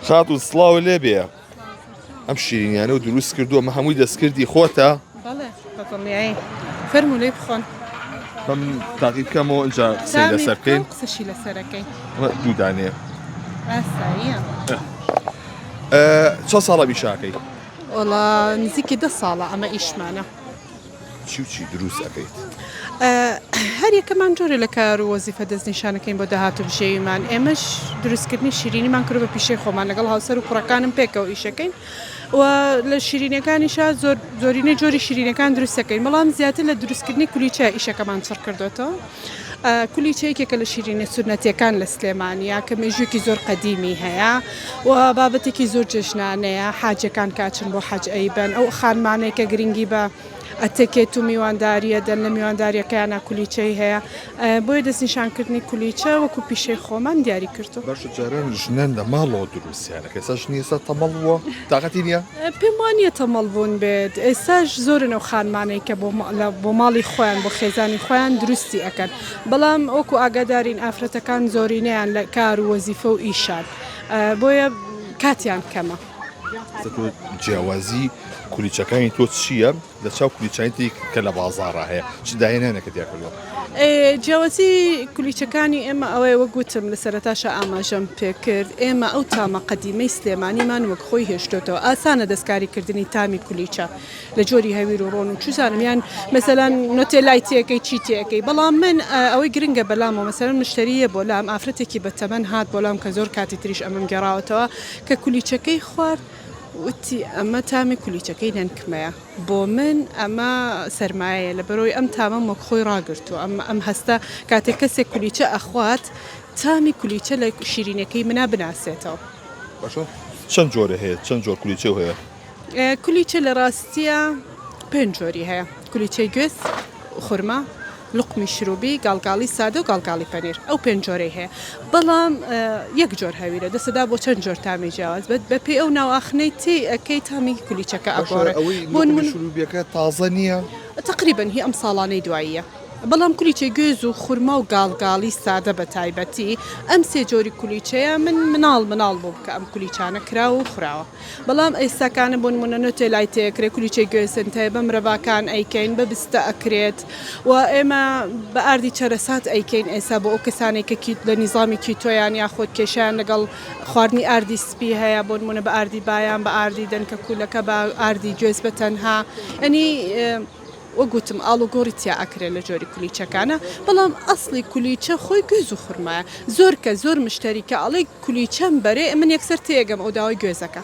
خاتون سڵاو لێ بێ ئەم شیرینیانە و دروست کردووە مە هەمووی دەستکردی خۆتە فەرمو لێ بخۆن بەم تاقی بکەمەوە ئەجا قسەی لەسەر بکەین قسەشی لەسەرەکەی دوودانێ چە ساڵە بیشاکەی وڵا نزیکی دە ساڵە ئەمە ئیشمانە چی و چی دروست ئەکەیت؟ هەر یەکەمان جۆرێ لە کار و وەزیفە دەست نیشان ئەکەین بۆ داهاتوو بژێویمان، ئێمەش دروست کردنی شیرینیمان کردوە بە پیشەی خۆمان لەگەڵ هاوسەر و کوڕەکانم پێکەوە ئیش ئەکەین و لە شیرینیەکانیشا زۆر زۆرینەی جۆری شیرینەکان دروست ئەکەین بەڵام زیاتر لە دروست کردنی کولیچە ئیشەکەمان چڕ کردۆتەوە. کولیچە یەکێکە لە شیرینە سونەتیەکان لە سلێمانیە کە مێژوویەکی زۆر قەدیمی هەیە و بابەتێکی زۆر جێژنانەیە حاجەکان کاچن بۆ حەج ئەیبەن ئەو خانمانەی کە گرنگی بە ئەتەکێت و میوانداریە دەن لە میوانداریەکەیانە کولیچەی هەیە بۆیە دەستنیشانکردنی کولیچە وەکو پیشەی خۆمان دیاری کردووە. باشە جاران ژنان لە ماڵەوە دروست. سیانە کەسە ژنی ئێستا تەمەڵ بووە تاقەتی نییە؟ پێم وا نییە تەمەڵ بوون بێت ئێستاش زۆرن ئەو خانمانەی کە بۆ ماڵی خۆیان بۆ خێزانی خۆیان دروستی ئەەکەن بەڵام ئۆکو ئاگادارین ئافرەتەکان زۆرینەیان لە کار و وەزیفە و ئیشان بۆیە کاتیان کەمە. جیاوازی کولیچەکانی تۆ چییە؟ لە چاو کولیچەکانی تری کە لە بازاڕا هەیە چ داهێنانێکت تیا کردووە؟ جیاوازی کولیچەکانی ئێمە ئەوەیە وەک گوتم لە سەرەتاشا ئاماژەم پێ کرد ئێمە ئەو تامە قەدیمەی سلێمانیمان وەک خۆی هێشتۆتەوە ئاسانە دەستکاریکردنی تامی کولیچە لە جۆری هەویر و ڕۆن و چوزانم یان مەسەلەن نۆتێلای تێکەی چی تێکەی بەڵام من ئەوەی گرنگە بەلامەوە مەسەلەن مشتریە بۆ لام ئافرەتێکی بەتەمەن هات بۆ لام کە زۆر کاتی تریش ئەمەم گێڕاوەتەوە کە کولیچەکەی خوارد وتی، ئەمە تامی کولیچەکەی نەنکمەیە. بۆ من ئەمە سەرمایەیە، لەبەرئەوەی ئەم تامەم وەک خۆی ڕاگرتووە. ئەم هەستە کاتێک کەسێک کولیچە ئەخوات، تامی کولیچە لە شیرینییەکەی منا بناسێتەوە. باشە چەند جۆرێ هەیە؟ چەند جۆر کولیچەو هەیە؟ کولیچە لە ڕاستییا پێنج جۆری هەیە، کولیچەی گوێز، خورما، لوقمی شروبی، گاڵگاڵی سادە و گاڵگاڵی پەنیر ئەو پێنج جۆرەی هەیە بەڵام یەک جۆر هەویرە دەسەدا بۆ چەند جۆر تامی جیاواز بەت بەپێی ئەو ناوئاخنەی تێی ئەکەی تامی کولیچەکە ئەگۆڕێ بۆ نمونە شروبیەکە تازە نیە؟ تەقریبەن هی ئەم ساڵانەی دواییە بەڵام کولیچەی گوێز و خورما و گاڵگاڵی سادە بە تایبەتی ئەم سێ جۆری کولیچەیە من مناڵ مناڵ بووم کە ئەم کولیچانە کراوە و خوراوە. بەڵام ئەی سەکانە بۆ نمونە نۆتێ لای تێکرێ کولیچەی گوێسنت هەیە بە مرەڤاکان ئەیکەین بە بستە ئەکرێت و ئێمە بە ئاردی چەرەسات ئەیکەین ئێسا بۆ ئەو کەسانەی کە کیت لە نیزامی کیتۆیان یاخۆد کێشەیان لەگەڵ خواردنی ئاردی سپی هەیە بۆ نمونە بە ئاردی بایان بە ئاردی دەنکە کوولەکە بە ئاردی گوێز بە تەنها یانی وەک وتم ئاڵوگۆڕی تیا ئەکرێ لە جۆری کولیچەکانا بەڵام ئەسڵی کولیچە خۆی گوێز و خورمایە زۆر کەس زۆر مشتەری کە ئەڵێ کولیچەم بەرێ من یەکسەر تێئەگەم ئەو داوای گوێزەکە.